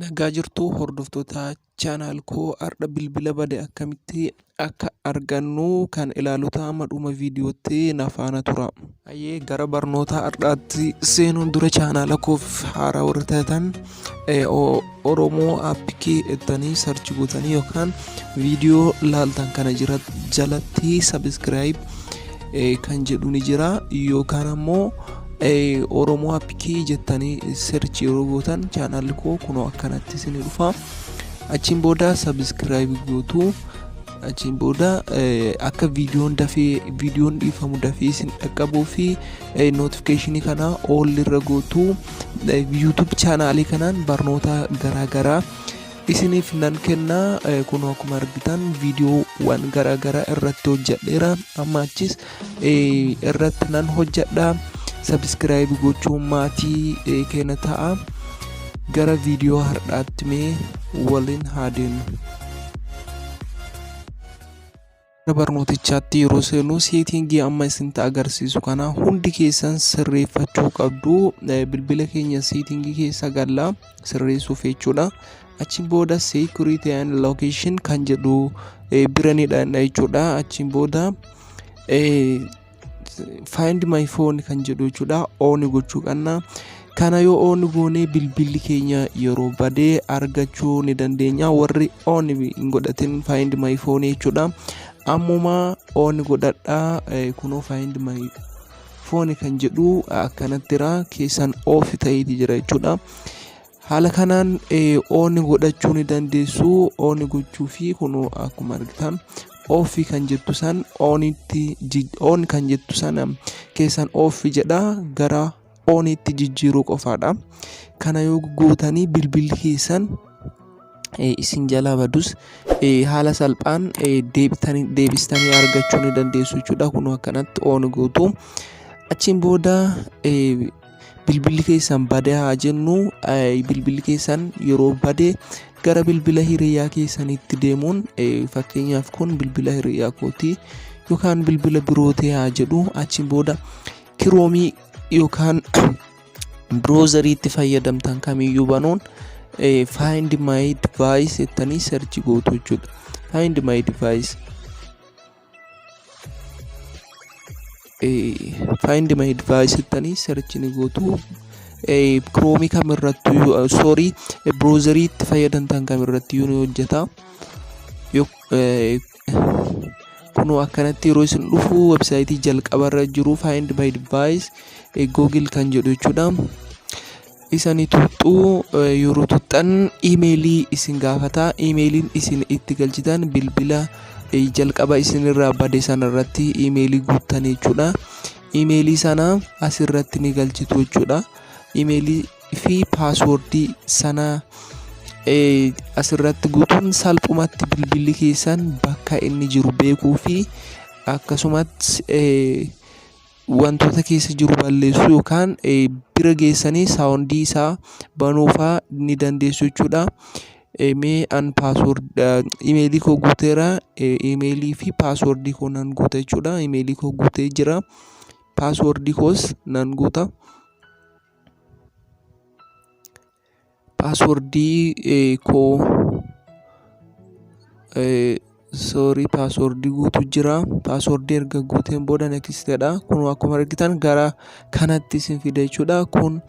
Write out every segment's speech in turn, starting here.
Nagaa jirtuu hordoftoota channel koo har'a bilbila bade akkamitti akka argannu kan ilaalu ta'a amma dhuma viidiyootti na faana tura. Ayyee gara barnoota har'aatti seenuun dura chaanaala koof haaraa warra taatan eh, o- Oromoo appikii jettanii sarchi gootanii yookaan viidiyoo laaltan kana jira jalatti sabiskiraayib kan jedhu ni jira yookaan ammoo Oromoo Appikii jettanii search yeroo gootan chaanaalli koo kunoo akkanatti isin dhufa. Achiin booda sabiskiraayibii gootu. Achiin booda akka viidiyoon dafee viidiyoon dhiifamu dafee isin dhaqqabuu fi notifikeeshinii kana all irra gootu. YouTube chaanaalii kanaan barnoota garaagaraa isiniif nan kenna. Kunoo akkuma argitan viidiyoowwan garaagaraa irratti hojjedheera. Amma achis irratti nan hojjedha sabiskiraayibi gochuun maatii keenya ta'a gara viidiyoo har'aatti mee waliin haa deemnu. Gara barnootichaatti yeroo seenu seetingii amma isinitti agarsiisu kana hundi keessan sirreeffachuu qabdu bilbila keenya seetingii keessa galla sirreessuuf jechuudha. achiin booda security and location kan jedhu bira ni dhaqna jechuudha achiin booda find my phone kan jedhu jechuudha ooni gochuu qabna kana yoo ooni goonee bilbilli keenya yeroo badee argachuu ni dandeenya warri ooni hin godhatin find my phone jechuudha ammuma ooni godhadha kunoo find my phone kan jedhu akkanattira keessan oofi ta'eeti jira jechuudha. Haala kanaan on godhachuu ni dandeessu. On gochuu fi kunoo akkuma argitan off kan jettu san onitti on kan jettu sana keessan off jedha gara onitti jijjiiruu qofaadha. Kana yoo gootanii bilbilli keessan isin jalaa badus haala salphaan deebistanii argachuu ni dandeessu jechuudha. Kunoo akkanatti on gootu. Achiin booda bilbilli keessan bade haa jennu bilbilli keessan yeroo bade gara bilbila hiriyaa keessanitti deemuun fakkeenyaaf kun bilbila hiriyaa kooti yookaan bilbila birootee haa jedhu achiin booda kiroomii yookaan biroozariitti fayyadamtan kamiyyuu banuun find my device jettanii search gootu jechuudha find my device find my device jettanii search ni gootu kiroomii kam irratti soorii browserii itti fayyadamtan kam irratti ni hojjeta kunoo akkanatti yeroo isin dhufu websaayitii jalqaba irra jiru find my device google kan jedhu jechuudha isani tuxxuu yeroo tuxxan imeelii isin gaafata imeeliin isin itti galchitan bilbila jalqaba isin irraa bade sana irratti imeelii guuttan jechuudha imeelii sana as irratti ni galchitu jechuudha imeelii fi paaswordii sana as irratti guutuun salphumatti bilbilli keessan bakka inni jiru beekuu fi akkasumatti wantoota keessa jiru balleessuu yookaan bira geessanii saawundii isaa banuu fa'aa ni dandeessu jechuu dha. Mee an paaswoord imeelii koo guuteera. Imeelii fi paaswoordii koo nan guuta jechuu dha. Imeelii koo guutee jira. Paaswoordii koos nan guuta. Paaswordii koo sorry paaswordii guutuu jira. Paaswordii erga guuteen booda next jedha. Kunoo akkuma argitan gara kanatti isin fida jechuudha. Kun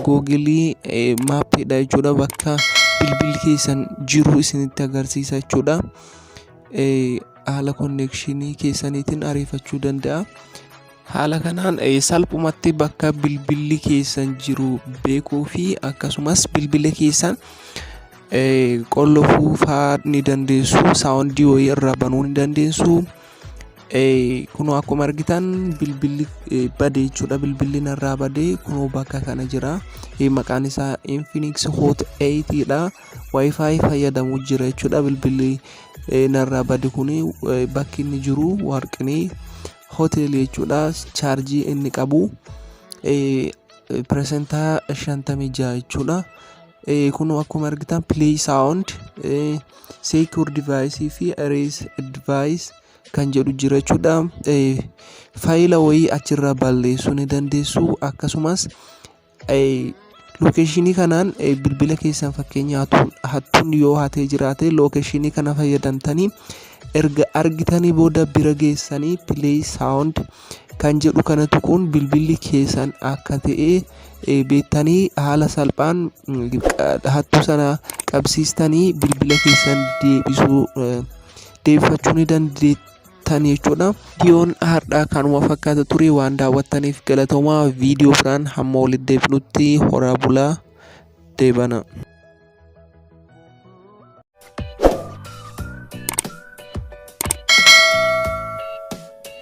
Google map dha jechuudha. Bakka bilbilli keessan jiru isinitti agarsiisa jechuudha. Haala connection keessaniitiin ariifachuu danda'a. Haala kanaan salphumatti bakka bilbilli keessan jiru beekuu fi akkasumas bilbila keessan qollofuu fa'aa ni dandeessu. Saawundii wayii irraa banuu ni dandeessu. Kunoo akkuma argitan bilbilli bade jechuudha. Bilbilli narraa bade kunoo bakka kana jira. Maqaan isaa Infinix Hot 8 dha. Wi-Fi fayyadamu jira jechuudha. Bilbilli narraa bade kun bakki inni jiru warqinii hotel jechuudha chaarjii inni qabu piresentaa 56 jechuudha kunuu akkuma argitan play sound secure device fi erase device kan jedhu jira jechuudha faayila wayii achirraa balleessuu ni dandeessu akkasumas Lookeshinii kanaan bilbila keessan fakkeenya hattuun yoo hatee jiraate lookeshinii kana fayyadamtanii erga argitanii booda bira geessanii pileey saawundi kan jedhu kana tuquun bilbilli keessan akka ta'e beektanii haala salphaan hattuu sana qabsiistanii bilbila keessan deebisuu deebifachuu ni dandeettu. daawwattan jechuudha. Viidiyoon har'aa kanuma fakkaata ture waan daawwattaniif galatoomaa viidiyoo biraan hamma walitti deebinutti horaa bulaa deebana.